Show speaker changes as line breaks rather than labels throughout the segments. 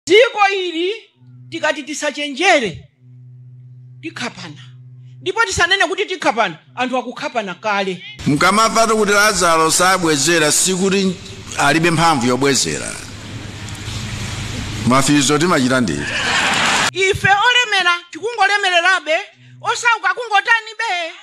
dziko ili tikati tisachenjere tikhapana ndipo tisanene kuti tikhapana anthu akukhapana kale Mukamamvatu kuti
Lazaro sabwezera sikuti alibe mphamvu yobwezera. Mafizo timachita ndithu. ife
olemera tikungolemererabe osauka kungotani be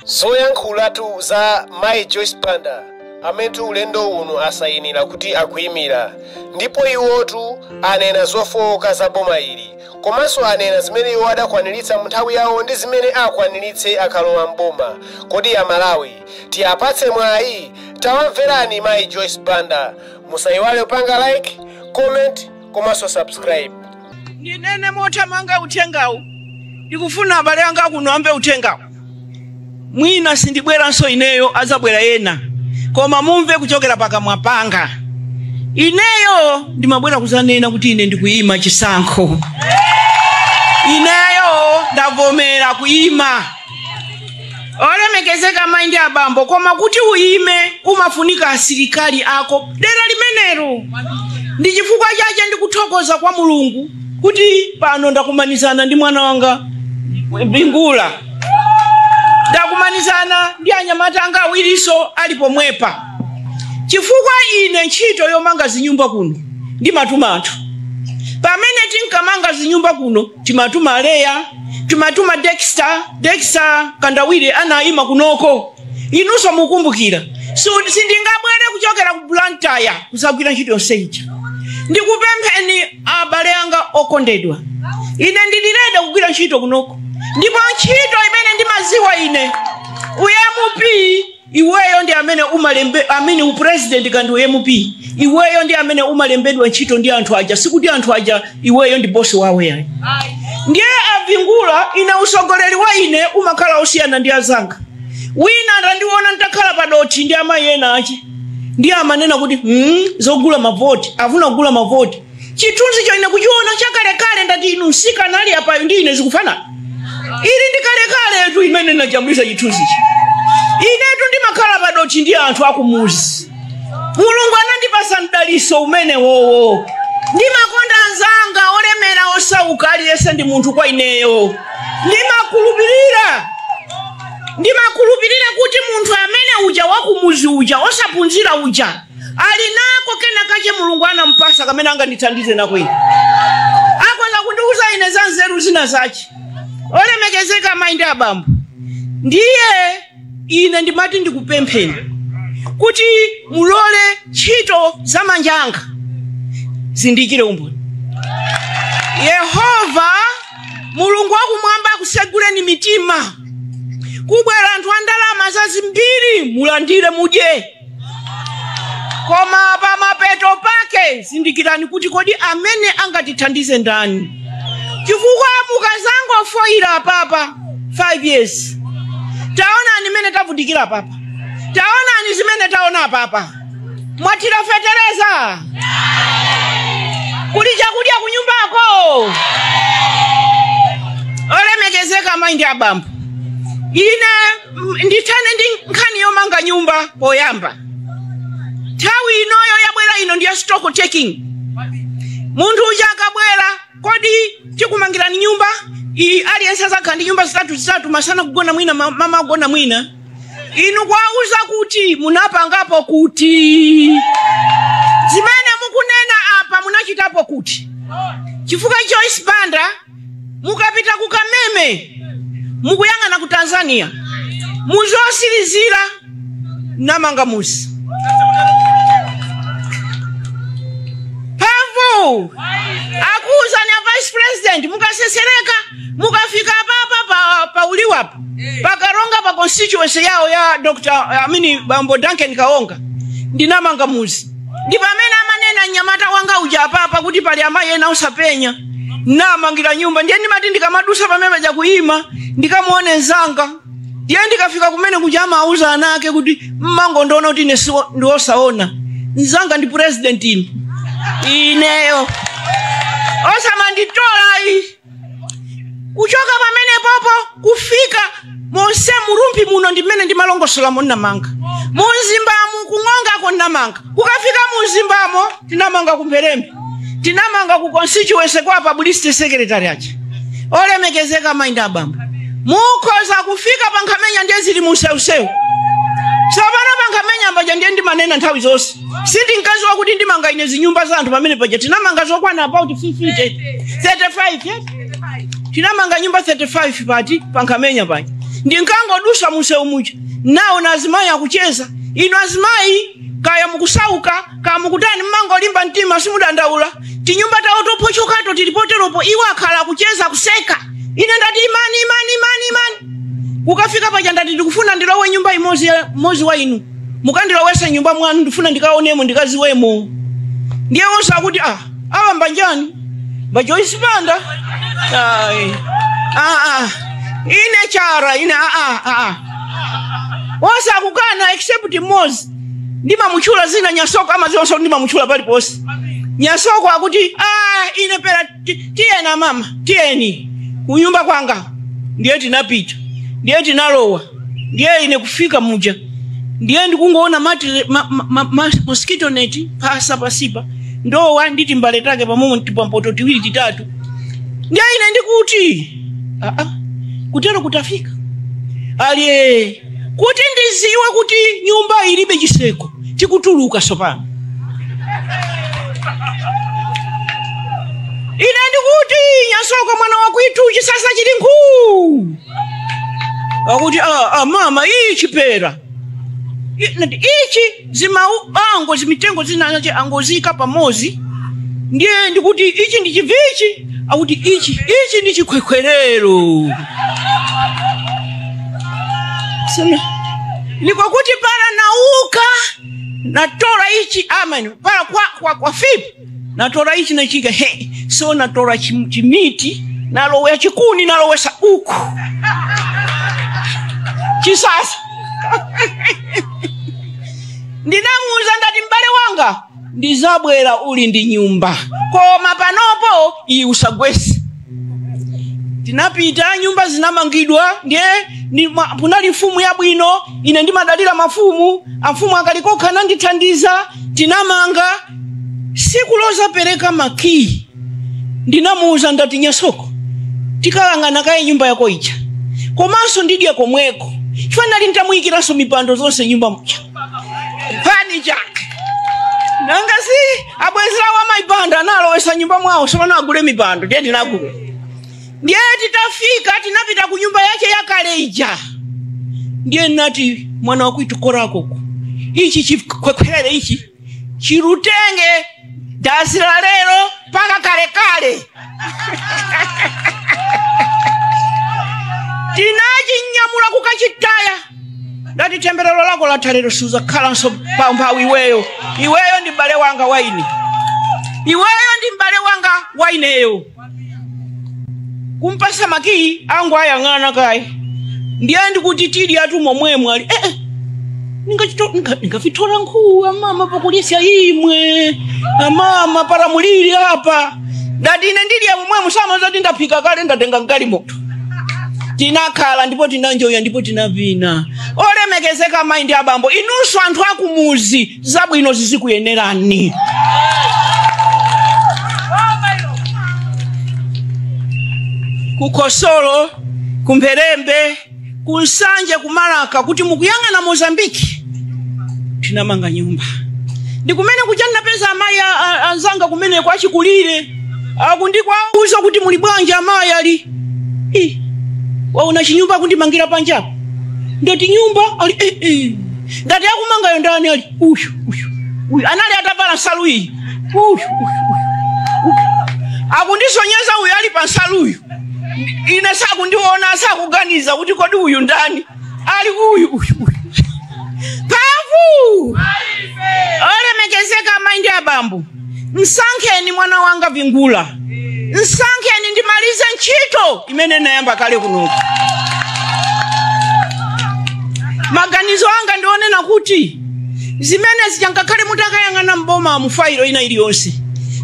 Zoyankhulatu za Mayi Joyce Banda amene ulendo uno asayinira kuti akuyimira ndipo iwotu anena zofowoka za boma ili komanso anena zimene iwo adakwaniritsa mu nthawi yawo ndi zimene akwaniritse akalowa m'boma. Kodi Amalawi tiapatse mwayi? Tawamverani Mayi Joyce Banda. Musayiwale kupanga like, comment komanso subscribe. ndinene
mothamanga uthengawu ndikufuna abale anga kuno amve uthengawu mwina sindibweranso ineyo adzabwera ena koma mumve kuchokera pakamwa panga ineyo ndimabwera kuzanena kuti ine ndikuyima chisankho ineyo ndavomera kuyima olemekezeka amayi ndi abambo koma kuti uyime umafunika asilikali ako dera limenelo ndi chifukwa chache ndikuthokoza kwa mulungu kuti pano ndakumanizana ndi mwana wanga Mbingula ndakumanizana ndi anyamata anga awirinso ali pomwepa chifukwa ine ntchito yomanga zinyumba kuno ndimatuma anthu pamene tinkamanga zinyumba kuno timatuma aleya timatuma dexter dexter kandawire anayima kunoko inunso mukumbukira sindingabwere kuchokera ku blantyre kuzagwira ntchito yonse ija ndikupempheni abale anga okondedwa ine ndili ready kugwira ntchito kunoko ndipo ntchito imene ndimaziwa ine u MP iweyo ndi amene umalembe amene upresident kandi u MP iweyo ndi amene umalembedwa ntchito ndi anthu aja sikuti anthu aja iweyo ndi bosi wawo yayi ndiye apingula ine usogoleri wa ine umakhala osiyana ndi azanga wina atandiona nditakhala padothi ndi amayi enaake ndiye amanena kuti mm, zogula mavoti afuna kugula mavoti chithunzicho ine kuchiona chakalekale ndati inu msikana ali apayo ndi ine zikufanana ili ndi kalekaletu imene nnajambulisa chithunzichi inetu ndimakhala padothi ndi anthu akumuzi mulungu anandipasa mdaliso umenewowo ndimakonda anzanga olemera osauka aliyense ndi munthu kwa ineyo ndimakhulupirira ndimakhulupirira kuti munthu amene uja wakumuzi uja osaphunzira uja ali nako kena kache mulungu anampasa kamene angandithandize nako ine akhoza kundiuza ine za nzeru zina zache olemekezeka amayi ndi abambo ndiye ine ndimati ndikupempheni kuti mulole ntchito za manja anga zindichitire umboni yehova mulungu wakumwamba akuseguleni mitima kubwera anthu a ndalama zazimbiri mulandire mudye Koma pamapeto pake zindikirani kuti kodi amene angatithandize ndani? Chifukwa mukazangophonyera apapa 5 years, taonani mmene tavutikira apapa, taonani zimene taona apapa, mwatira fetereza kuli chakudya kunyumbako. Olemekezeka mayi ndi abambo, ine M- ndithane ndi nkhani yomanga nyumba poyamba nthawi inoyo yabwera ino ndiya stock taking munthu uja akabwera kodi tikumangirani nyumba iyi aliyense azakhala ndi nyumba zitatu zitatu masana kugona mwina ma- mama kugona mwina inu kuwauza kuti munapangapo kuti zimene mukunena apa munachitapo kuti chifukwa joyce banda mukapita ku kameme mukuyang'ana ku tanzania muzosilizira namanga muzi pomwe akuuzani a vice president mukasesereka mukafika apapa pa, pa uliwapo pakaronga pa constituency yawo ya dr Amin bambo duncan kaonga ndinamanga muzi ndi pamene amanena mnyamata wanga uja apapa kuti pali amayi ena osapenya namangira nyumba ndiye ndimati ndikamadusa pamene paja kuyima ndikamuone nzanga ndiye ndikafika kumene kuja amauza ana ake kuti mumangondiona kuti ine siwo- ndiwosaona nzanga ndi president ine ineyo osamanditolayi kuchoka pamene popo kufika monse muRumphi muno ndimene ndimalongosolamo ndinamanga muMzimbamu kuNg'ongako ndinamanga kukafika muMzimbamo tinamanga kuMpherembe tinamanga ku constituency kwa publicity secretary aja olemekezeka mayi ndi abambo mukhoza kufika paNkhamenya ndiye zili musewusewu tsopano paNkhamenya paja ndiye ndimanena nthawi zonse si ndi mkazi wakuti ndimanga ine zinyumba za anthu pamene paja tinamanga zokwana about 50 35 yeah? tinamanga nyumba 35 pati pa nkhamenya paja ndinkangodusa munsewu muja nawona azimayi akucheza inu azimayi kaya mukusauka kaya mukutani mmangolimba mtima simudandaula tinyumba tawo tophochokato tili poteropo iwo akhala akucheza kuseka ine ndati imani imani imani imani kukafika paja ndati ndikufuna ndilowe nyumba imodzi ya- mmodzi wa inu mukandilowesa nyumba mwanu ndifuna ndikaonemo ndikaziwemo ndiye wonse akuti ah awa mbanjani ba Joyce banda Ai. Ah, ah. ine chara ine ah, ah, ah, ah. onse akukana except mmodzi ndimamutchula zina nyasoko amaziwanso ndimamutchula paliponse nyasoko akuti ah, ine pera ti- tiyeni amama tiyeni kunyumba kwanga ndiye tinapita ndiye tinalowa ndiye ine kufika muja ndiye ndikungoona matire- ma- ma- ma- ma- mosquito net mphasa pansipa ndowa ndi timbale take pamomo timapoto tiwiri titatu ndiye ine ndikuti "Ah, ah, kutero kutafika aliye kuti ndiziwe kuti nyumba ilibe chiseko tikutuluka sopano ine ndikuti nyasoko mwana wakwitu chisasa chili nkhuu akuti "Ah, ah, mama ichi pera I- nati, ichi zimabango zimitengo zinazache angoziika pamozi ndiye ndikuti ichi ndi chivichi akuti ichi ichi ndi chikhwekhwerero Sema, nikokuti para nauka natola ichi amama para kwa, kwa, kwafipa natola ichi nachika he so natola chim- chimiti nalowa chikuni nalowesa uku chisasa ndinamuuza ndati m'bale wanga ndizabwera uli ndi nyumba koma panopo iyi usagwese tinapita nyumba zinamangidwa ndiye ni- ma- kunali mfumu yabwino ine ndimadalira mafumu amfumu a kalikokha anandithandiza tinamanga siku lozapereka makiyi ndinamuuza ndati nyasoko tikalang'ana kaye nyumba yako ija komanso ndidye komweko chifukwa ndinali nditamuyikiranso mipando zonse nyumba muja pani chake nanga si abwenzi awo amayi banda anawalowesa nyumba mwawo sopano agule mipando ndiye tinagula ndiye titafika tinapita ku nyumba yake yakale ija ndiye nati mwana wakwitu korakoko ichi chikhwekhwere ichi chirutenge dazi la lero mpaka kalekale tinachinyamula kukachitaya ndati temberero lako latha lero suzakhalanso pamphawi iweyo iweyo ndi m'bale wanga waine iweyo ndi m'bale wanga waineyo kumpasa makiyi angu ayang'ana kaye ndiye ndikuti tili atu momwemo ali ndingavitola nkhuku amama pakulisya imwe amama para mulili apa ndati ine ndiliya momwemu musamazati ndaphika kale ndatenga mkali moto tinakhala ndipo tinanjoya ndipo tinavina olemekezeka amayi ndi abambo inunso anthu akumuzi zabwino zizikuyenerani kukosolo kumpherembe ku nsanje kumalaka kuti mukuyang'ana mozambiki tinamanga nyumba ndi kumene kuja ndinapeza amayi anzanga kumeneko achikulire akundikwauza kuti muli bwanji amayi ali "Eh, waona chinyumba akundimangira panjapo ndoti nyumba ali eh, eh. ndati akumangayo ndani ali uyu uyu uyu anali atavala nsalu iyi uyu uyu uyu akundisonyeza uyu ali pa nsaluyu ine sakundiona sakuganiza kuti kodi uyu ndani ali uyu uyu uyu mphamvu olemekezeka amayi ndi abambo msankheni mwana wanga vingula msankheni ndimalize ntchito imene nayamba kale kunoku maganizo anga ndi onena kuti zimene zija ngakhale mutakayang'ana m'boma mu failo ina iliyonse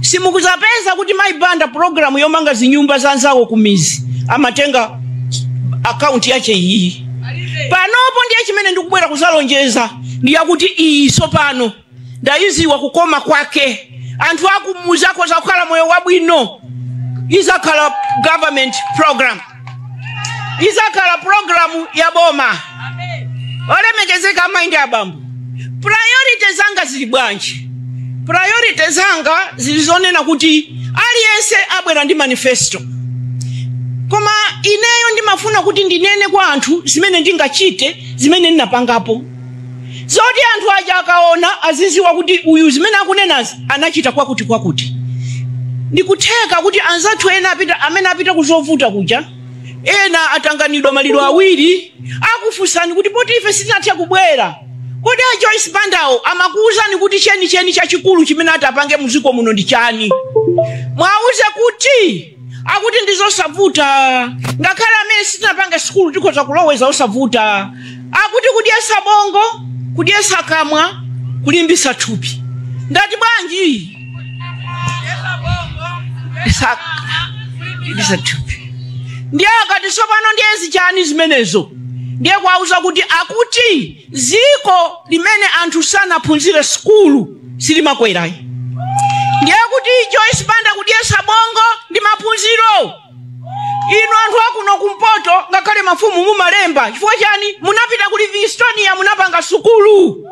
simukuzapeza kuti mayi banda programu yomanga zinyumba za nzawo kumizi amatenga akaunti yache iyi panopo ndiye chimene ndikubwera kuzalonjeza ndi chakuti iyi sopano ndayiziwa kukoma kwake anthu akumuzi akhoza kukhala moyo wabwino izakhala government program izakhala programu ya boma olemekezeka amayi ndi abambo priority zanga zili bwanji priority zanga zili zonena kuti aliyense abwera ndi manifesto koma ineyo ndimafuna kuti ndinene kwa anthu zimene ndingachite zimene ndinapangapo zoti anthu aja akaona aziziwa kuti uyu zimene akunenazi anachita kwakuti kwakuti ndikutheka kuti anzathu ena apita amene apita kuzovuta kuja ena atanganidwa maliro awiri akufunsani kuti poti ife sitinatha kubwera kodi a joyce bandawo amakuwuzani kuti chenicheni chachikulu chimene atapange muziko muno ndi chani mwawuze kuti akuti ndi zosavuta ngakhale amene sitinapanga sikulu tikhoza kuloweza zosavuta akuti kudyesa bongo kudyesa kamwa kulimbisa thupi ndati bwanji Sa- kulimbisa thupi ndiye akati tsopano ndiye zi chani zimenezo ndiye kuwauza kuti akuti dziko limene anthu sanaphunzire sukulu silimakwerayi ndiye kuti Joyce Banda kudyesa bongo ndi maphunziro inu anthu akuno kumpoto ngakhale mafumu mumalemba chifukwa chani munapita ku Livingstonia munapanga sukulu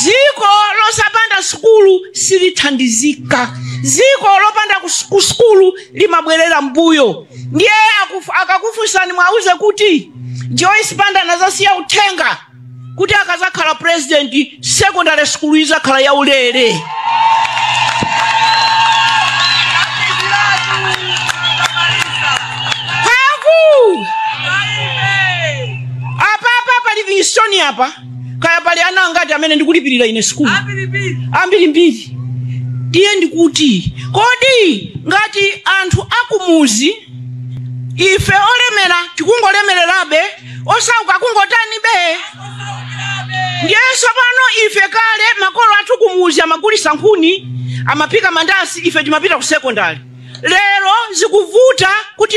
dziko losapanda sukulu silithandizika dziko lopanda kus- ku sukulu limabwerera mbuyo ndiye akufu- akakufunsani mwauze kuti Joyce Banda anazasiya uthenga kuti akazakhala president secondary school izakhala yaulere aku apa pa Livingstonia pa kaya pali ana angati amene ndikulipirira ine sikulu ambirimbiri ndiye ndikuti kodi ngati anthu akumuzi ife olemera tikungolemererabe osauka kungotanibe ndiye tsopano ife kale makolo athu kumuzi amagulisa nkhuni amaphika mandasi ife timapita ku sekondari lero zikuvuta kuti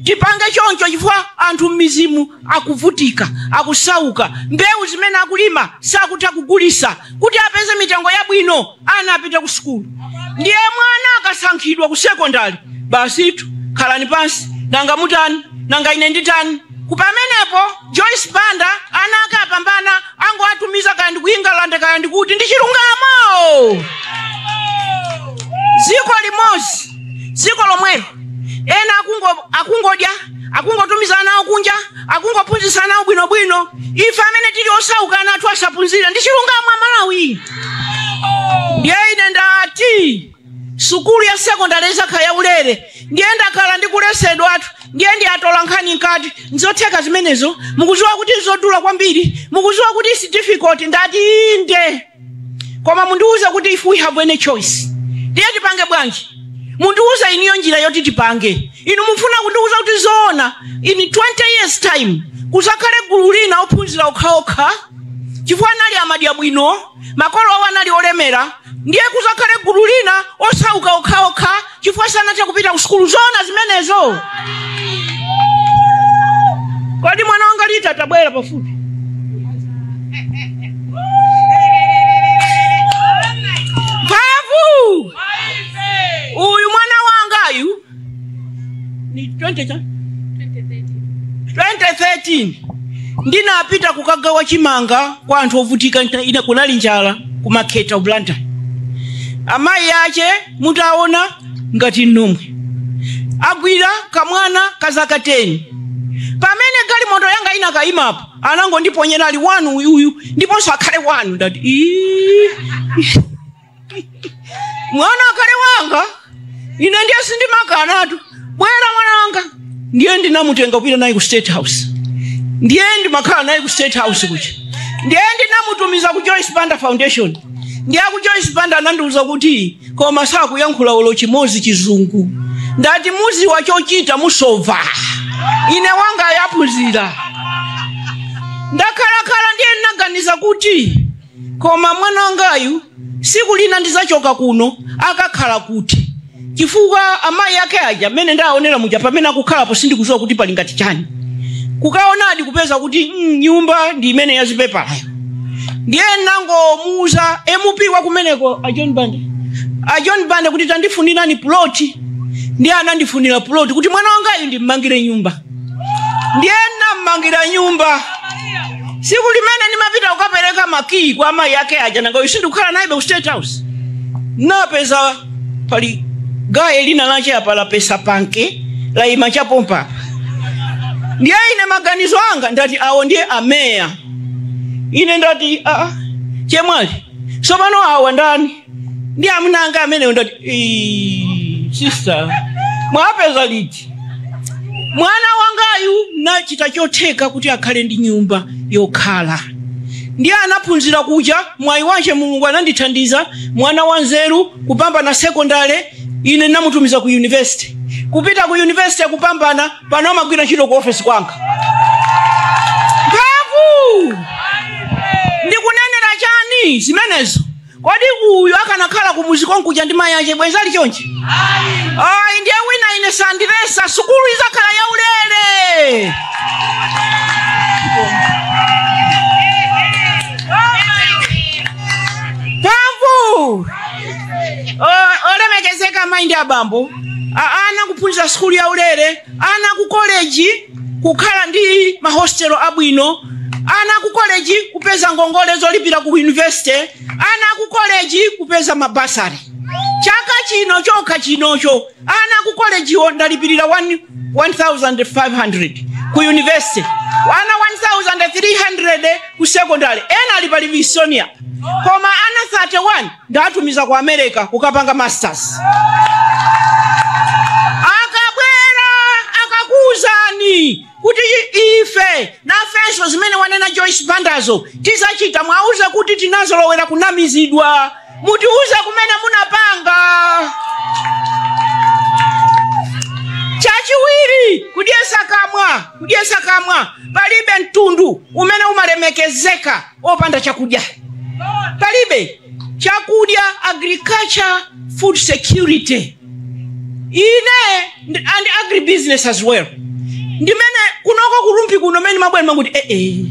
tipange choncho chifukwa anthu m'mizimo akuvutika akusauka mbewu zimene akulima sakutha kugulisa kuti apeze mitengo yabwino ana apite ku sukulu ndiye mwana akasankhidwa ku sekondari basitu khalani pansi nanga mutani nanga ine nditani koma pamenepo Joyce Banda ana ake apambana angowatumiza kaya ndi ku England kaya ndi kuti ndi chilungamo dziko limodzi dziko lomwelo ena akungo- akungodya akungotumiza ana awo kunja akungophunzitsa ana awo bwinobwino ife amene tili osauka ana athu asaphunzire ndi chilungamo aMalawi ndiye ine ndati sukulu ya sekondari izakhala yaulere ndiye ndakhala ndikuletsedwatu ndiye ndi atola nkhani nkuti nzotheka zimenezo mukuziwa kuti nzodula kwambiri mukuziwa kuti it's difficult ndati inde koma mundiuze kuti if we have any choice ndiye tipange bwanji mundiuze inuyo njira yoti tipange inu mufuna kundiuza kuti zoona in 20 years time kuzakhale gulu lina ophunzira okhaokha chifukwa anali amadya bwino makolo awo anali olemera ndiye kuzakhale gulu lina osauka okhaokha chifukwa sanathe kupita ku sukulu zoona zimenezo kodi mwana wanga liti tabwera pafupi mphamvu uyu mwana wangayu ni 20 cha 2013 ndinapita kukagawa chimanga kwa anthu ovutika nta- ina kunali njala ku makhetha ku blantyre amayi ache mutaona ngati nomwe agwira kamwana ka zaka 10 pamene galimoto yanga inakayimapo anangondiponyera ali wanu uyuyu ndiponso akhale wanu ndati "Ii." mwana akhale wanga ine ndiye sindimakanatu bwera mwana wanga ndiye ndinamutenga kupita naye ku state house ndiye ndimakhala naye ku state house kuja ndiye ndinamutumiza ku joyce banda foundation ndiye ku joyce banda anandiuza kuti koma sakuyankhula olo chimodzi chizungu ndati muziwa chochita musova ine wangayu aphunzira ndakhalakhala ndiye ndinaganiza kuti koma mwana wangayu siku lina ndizachoka kuno akakhala kuti chifukwa amayi ake aja mmene ndaonera muja pamene akukhalapo sindikuziwa kuti pali ngati chani kukaonadi kupeza kuti mm, nyumba ndi imene yazipepalayo ndiye nangomuuza mp wa kumeneko a john bande a john bande kuti tandifunirani puloti ndiye anandifunira puloti kuti mwana wangayu ndimmangire nyumba ndiye nammangira nyumba siku limene ndimapita kukapereka makiyi kwa amayi ake aja nanga si ndikukhala nayebe ku state house napeza pali gaye lina lache apa lapesa panke laima chapompa ndiye ine maganizo anga ndati awo ndiye ameya ine ndati aa chemwali sopano awa ndani ndi amuna anga amenewo ndati "Ii, sister mwapeza liti mwana wangayu nachita chotheka kuti akhale ndi nyumba yokhala ndiye anaphunzira kuja mwayi wache mulungu anandithandiza mwana wanzeru kupambana sekondale ine namutumiza ku yunivesite kupita ku yunivesite kupambana pano amagwira ntchito ku ofesi kwanga mphamvu ndikunenera chani zimenezo kodi uyu akanakhala kumuzi konkuja ndi mayi ache bwenzi ali chonchi ayi ndiye wina ine sandiletsa sukulu izakhala yaulere mphamvu O- olemekezeka mayi ndi abambo A- ana kuphunzira sukulu yaulere ana ku koleji kukhala ndi mahostelo abwino ana aku koleji kupeza ngongole zolipira ku university ana aku koleji kupeza mabasare chaka chino chokha chinocho ana aku kolejiwo ndalipirira 1500 ku university ana 1300 ku secondary ena ali pa Livingstonia koma ana 31 ndatumiza ku america kukapanga masters akabwera akakuuzani kuti i- ife nafenso zimene wanena joyce bandazo tizachita muwauze kuti tinazolowera kunamizidwa mutiuze kumene munapanga chachiwiri kudyesa kamwa kudyesa kamwa palibe mtundu umene umalemekezeka opanda chakudya palibe chakudya agriculture food security ine and agribusiness as well ndimene kunoko ku Rumphi kuno mene mabwera mmati ee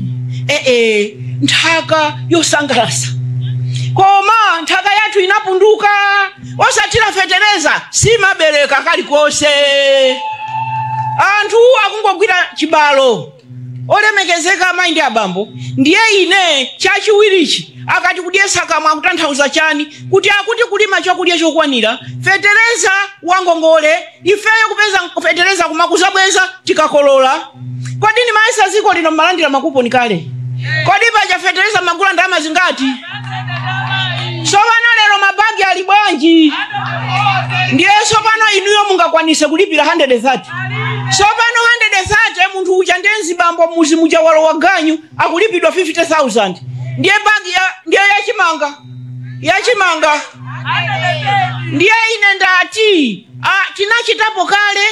ee nthaka yosangalasa koma nthaka yathu inapunduka osathira fetereza simabereka kalikonse anthu akungogwira chibalo olemekezeka amayi ndi abambo ndiye ine chachiwirichi akati kudyesa kamwa akutanthauza chani kuti akuti kulima chakudya chokwanira fetereza wangongole ifeyo kupeza fetereza kumakuzabweza tikakolola kodi ndimayesa ziko lino mmalandira makuponi kale kodi paja fetereza mmagula ndalama zingati sopano lero mabagi ali bwanji ndiye sopano inuyo mungakwanise kulipira 130 sopano 130 munthu uja ndiye mzibambo mmuzi muja walowa ganyu akulipidwa 50000 ndiye bagi ya, ndiye yachimanga yachimanga ndiye ine ndati ah, tinachitapo kale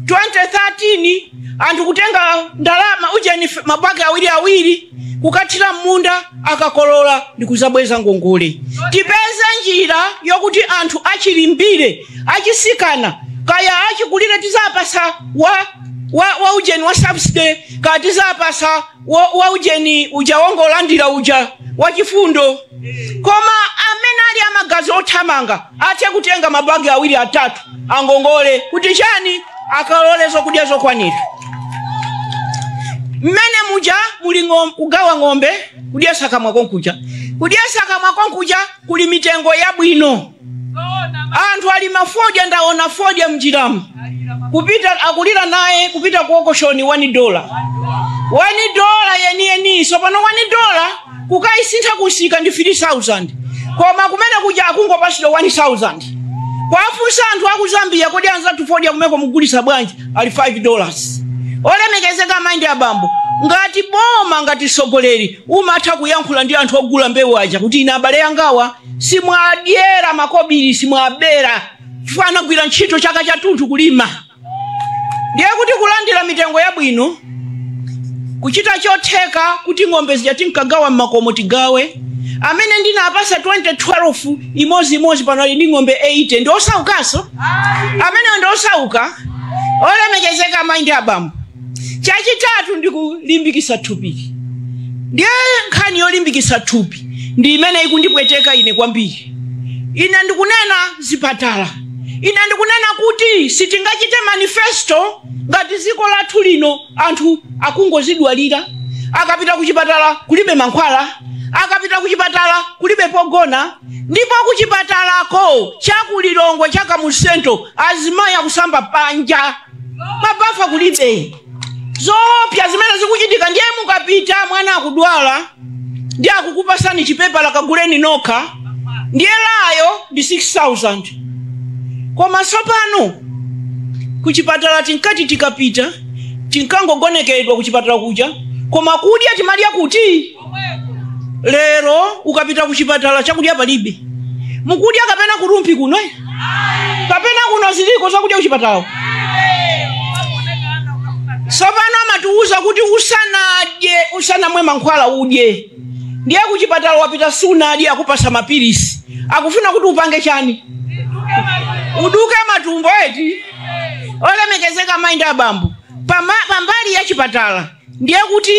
2013 anthu kutenga ndalama ujeni mabagi awiri awiri kukathira m'munda akakolola ndikuzabweza ngongole tipeze njira yokuti anthu achilimbire achisikana kaya achikulire tizapasa wa wa, wa ujeni wa subsidy kaya tizapasa wa, wa ujeni uja wongolandira uja wachifundo koma amene ali amagazi othamanga Athe kutenga ma bag awiri atatu angongole kuti chani akakolole zokudya zokwanira. Mmenemo muja muli ng'om- kugawa ng'ombe kudyesa kamwa konkuja. Kudyesa kamwa konkuja kuli mitengo yabwino. Anthu ali mafodya ndaona fodya mnjiramu. Kupita akulira naye kupita kuokoshoni 1 dollar. 1 dollar yeniyeni. Sopano 1 dollar kukaisintha kumsika ndi 3000 koma kumene kuja akungopatsidwa 1000 kwafunsa anthu aku zambia kodi anzathu fodya kumeneko mugulisa bwanji ali 5 dollars olemekezeka mayi ndi abambo ngati boma ngati mtsogoleri umatha kuyankhula ndi anthu ogula mbewu aja kuti ine abale yangawa simwadyera makobiri simwabera chifukwa anagwira ntchito chaka chathunthu kulima ndiye kuti kulandira mitengo yabwino kuchita chotheka kuti ng'ombe zija tinkagawa m'makomo tigawe amene ndinapasa 2012 imodzi imodzi pano ali ndi ng'ombe 80 ndi osaukanso amenewo ndi osauka olemekezeka amayi ndi abambo chachitatu ndi kulimbikisa thupi ndiye nkhani yolimbikisa thupi ndi imene ikundipweteka ine kwambiri ine ndikunena zipatala ine ndikunena kuti sitingachite manifesto ngati dziko lathu lino anthu akungozidwalira akapita kuchipatala kulibe mankhwala akapita kuchipatala kulibe pogona ndipo kuchipatalako cha ku Lilongwe cha Kamuzu Central azimayi akusamba panja mabafa kulibe zoopsya zimene zikuchitika ndiye mukapita mwana akudwala ndiye akukupasani chipepala kaguleni nokha ndiye LA yo ndi 6000 koma tsopano kuchipatala tinkati tikapita tinkangogonekedwa kuchipatala kuja koma kudya timadya kuti lero ukapita ku chipatala chakudya palibe mukudya kapena ku Rumphi kuno eh? kapena kuno ziliko zakudya kuchipatala tsopano amatiwuza kuti usanadye usanamwe mankhwala udye ndiye kuchipatala wapita sunadye akupasa mapilisi akufuna kuti upange chani uduke matumbo eti olemekezeka mayi ndi abambo pama- pambali ya chipatala ndiye kuti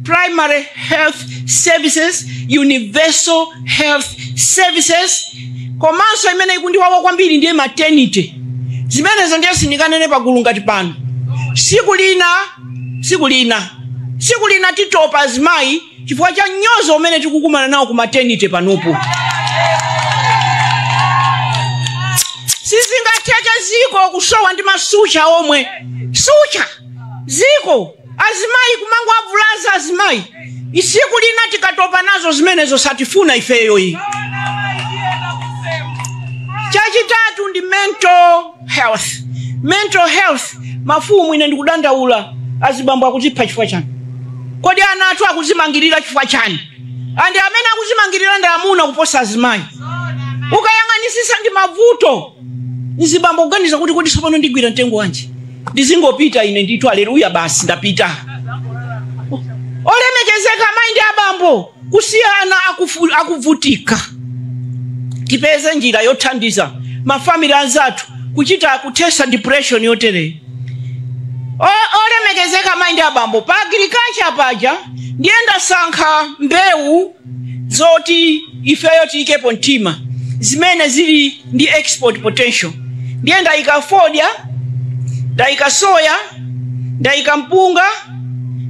primary health services universal health services komanso imene ikundiwawa kwambiri ndiye maternity zimenezo ndiye sindinganene pagulu ngati pano siku lina siku lina siku lina titopa azimayi chifukwa cha mnyozo umene tikukumana nawo ku maternity panopo sizingatheke ziko kusowa ndi masucha omwe sucha ziko azimayi kumangowavulaza azimayi siku lina tikatopa nazo zimenezo sitifuna ifeyo ayi chachitatu ndi mental health mental health mafumu ine ndikudandaula azibambo akuzipha chifukwa chani kodi ana athu akuzimangirira chifukwa chani andi amene akuzimangirira ndi amuna kuposa azimayi ukayang'anisisa ndi mavuto mzibambo kuganiza kuti kodi tsopano ndigwira mtengo wanji ndizingopita ine ndithu aleluya basi ndapita olemekezeka mayi ndi abambo kusiyana akufu- akuvutika tipeze njira yothandiza mafamili anzathu kuchita kuthesa depression yotereyo O- olemekezeka mayi ndi abambo pa agriculture paja ndiye ndasankha mbewu zoti ifeyo tiikepo mtima zimene zili ndi export potential ndiye ndayika fodya ndayika soya ndayika mpunga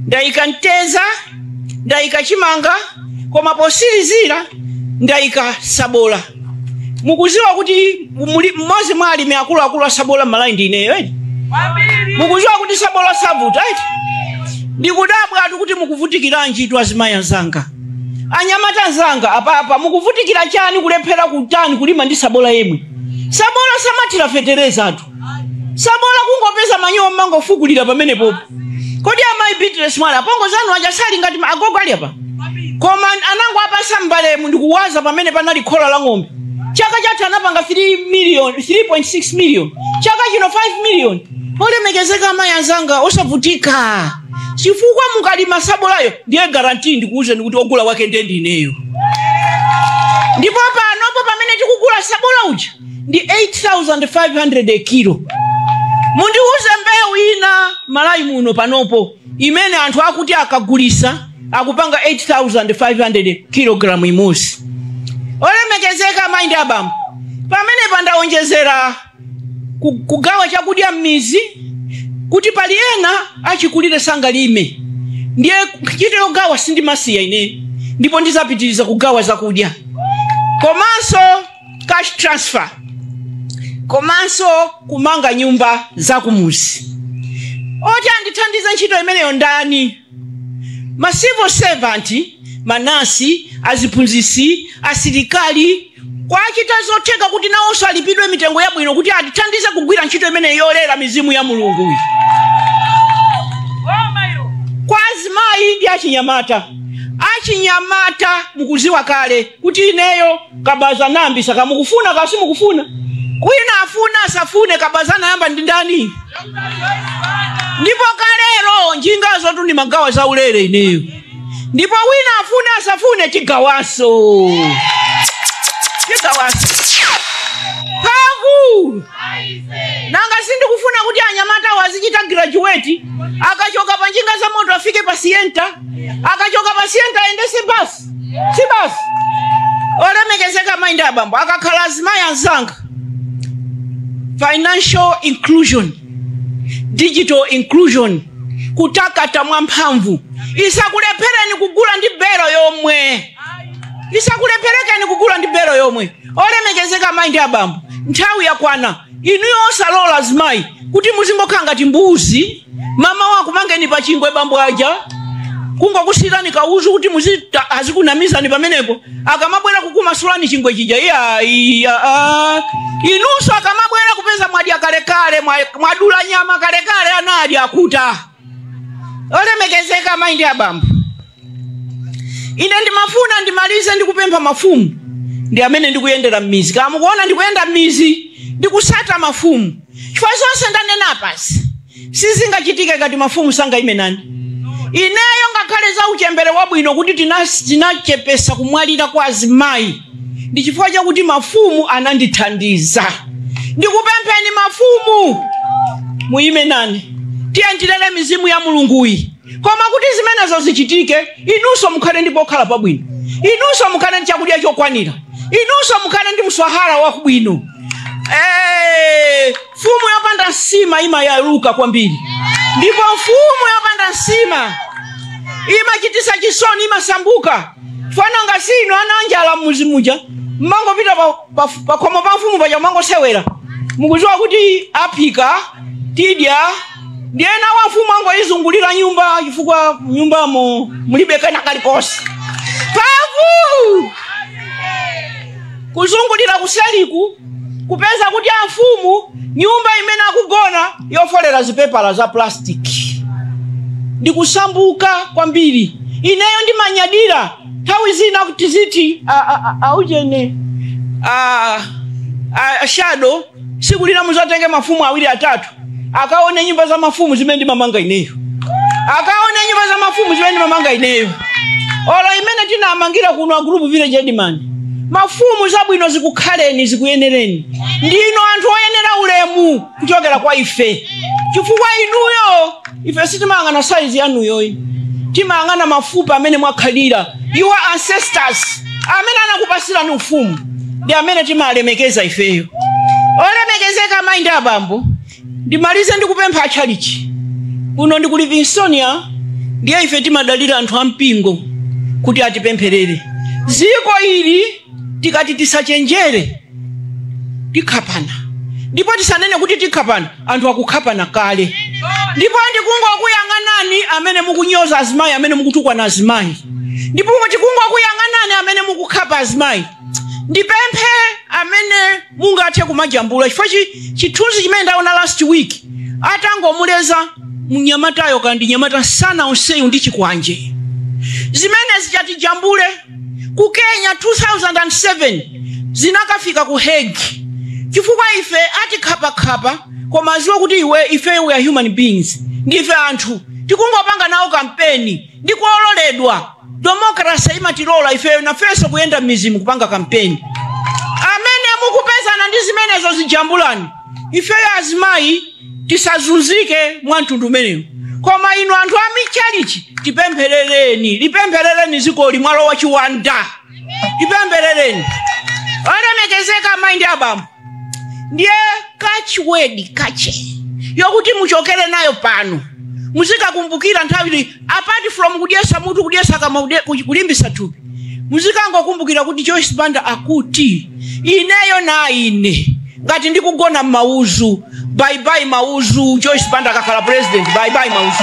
ndayika mteza ndayika chimanga koma posilizira ndayika sabola mukuziwa kuti muli- mmodzi mwa alimi akuluakulu asabola malawi ndi ineyo eti mukuziwa kuti sabola savuta eti ndikudabwatu kuti mukuvutikiranjitu azimayi anzanga anyamata anzanga apapa mukuvutikira chani kulephera kutani kulima ndi sabola yemwe sabola samathira feterezatu sabola kungopeza manyowa mumangofukulira pamenepopo kodi amayi beatrice mwala apongo zanu aja sali ngati ma- agogo ali apa koma anangowapatsa mbalemu ndikuwaza pamene panali khola la ng'ombe chaka chatha anapanga 3 million 3.6 million chaka chino 5 million olemekezeka amayi anzanga osavutika chifukwa mukalima sabolayo ndiye guarantee ndikuwuzeni kuti ogula wake ndiye ndineyo ndipo panopo pamene tikugula sabola uja ndi 8500 kilo mundiuze mbewu ina malawi muno panopo imene anthu akuti akagulisa akupanga 8500 kilogramu imodzi olemekezeka mayi ndi abambo pamenepa ndawonjezera ku- kugawa chakudya m'mizi kuti pali ena achikulire sangalime ndiye ntchito yogawa sindimasiya ine ndipo ndizapitiriza kugawa zakudya komanso cash transfer komanso kumanga nyumba za kumuzi oti andithandize ntchito imeneyo ndani ma civil servant manasi aziphunzisi asilikali kuwachita zotheka kuti nawonso alipidwe mitengo yabwino kuti atithandize kugwira ntchito imeneyi yolera mizimu ya mulunguyi kwa azimayi ndi achinyamata achinyamata mukuziwa kale kuti ineyo kabaza ndinayambisa kaya mukufuna kaya simukufuna wina afune asafune kabaza anayamba ndi ndani ndipo kalero njingazotu ndimagawa za ulere ineyo ndipo wina afune asafune tigawaso tigawaso paku nanga si ndikufuna kuti anyamata azichita graduate akachoka pa njinga za moto afike pa sienta akachoka pa sienta ayendese basi si basi olemekezeka amayi ndi abambo akakhala azimayi anzanga financial inclusion digital inclusion kutakata mwamphamvu isakulepherekeni kugula ndi belo yomwe isakulepherekeni kugula ndi belo yomwe olemekezeka amayi ndi abambo nthawi yakwana inuyo osalola azimayi kuti muzingokhala ngati mbuzi mamawa akumangeni pa chingwe bambo aja kungokusiyirani kauzu kuti muzidya azikunamizani pamenepo akamabwera kukumasulani chingwe chija iyaiya inunso akamabwera kupeza mwadya kalekale mwa- mwadula nyama kalekale anadya akhuta olemekezeka amayi ndi abambo ine ndimafuna ndimalize ndikupempha mafumu ndi mmene ndikuyendera m'mizi kaya mukuona ndikuyenda m'mizi ndikusata mafumu chifukwa zonse ndanena apazi sizingachitike ngati mafumu sangayime nani ineyo ngakhale za uchembere wabwino kuti tina- tinachepesa kumwalira kwa azimayi ndi chifukwa chakuti mafumu anandithandiza ndikupempheni mafumu muyime nani tiyeni tilere mizimu ya mulunguyi Koma kuti zimenezo zichitike, inunso mukhale ndi pokhala pabwino, inunso mukhale ndi chakudya chokwanira, inunso mukhale ndi mswahara waubwino. Eh, mfumu yopanda nsima imayaluka kwambiri, ndipo mfumu yopanda nsima imachitisa chisoni, imasambuka. Mwana wanga si inu ana anjala mmuzi muja, mmangopita pa Paf- pakhomo pa mfumu paja mangosewera mukuziwa kuti aphika tidya ndiye ana a mfumu angoyizungulira nyumba chifukwa nyumbamo mulibe kena kalikose pamene kuzungulira kuseliku kupeza kuti amfumu nyumba imene akugona yofolera zipepala za plastic ndikusambuka kwambiri ineyo ndimanyadira nthawi zina kuti tiziti a- a- a- aujene a- a- a- shado siku lina muzatenge mafumu awiri atatu akaone nyumba za mafumu zimene ndimamanga ineyo akaone nyumba za mafumu zimene ndimamanga ineyo olo imene tinamangira kuno a group village headman mafumu zabwino zikukhaleni zikuyenereni ndinu anthu oyenera ulemu kuchokera kwa ife chifukwa inuyo ife sitimayang'ana size yanuyo iyayi timayang'ana mafupa amene mwakhalira your ancestors amene anakupasirani ufumu ndi amene timalemekeza ifeyo olemekezeka amayi ndi abambo ndimalize ndikupempha atchalichi kuno ndi ku Livingstonia ndiye ife timadalira anthu ampingo kuti atipempherere dziko ili tikati tisachenjere tikhapana ndipo tisanene kuti tikhapana anthu akukhapana kale ndipo ndikungokuyang'anani amene mukunyoza azimayi amene mukutukwana azimayi ndipo tikungokuyang'anani amene mukukhapa azimayi ndipemphe amene mungathe kumajambula chifukwa chi- chithunzi chimene ndaona last week atangomuleza mnyamatayo kandi nyamata nsana onsewu ndi chikwanje zimenezi zichitijambule ku kenya 2007 zinakafika ku Hague chifukwa ife atikhapakhapa koma aziwe kuti iwe ife we are human beings ndife anthu tikungopanga nawo kampeni ndikuololedwa demokrasi imatilola ifeyo nafenso kuyenda m'mizimo kupanga kampeni amene mukupezana ndi zimenezo zijambulani ifeyo azimayi tisazunzike mwa mtundu umenewu koma inu anthu a michalichi lipempherereni lipempherereni zikoli mwalowa chiwanda lipempherereni olemekezeka amayi ndi abambo ndiye catchword kache yokuti muchokere nayo pano muzikakumbukira nthawi Apart from kudyesa mutu kudyesa kama ude- ku- kulimbisa thupi muzikangokumbukira kuti Joyce Banda akuti ineyo na ine ngati ndikugona m'mauzu bye bye mauzu Joyce Banda akakhala president bye bye mauzu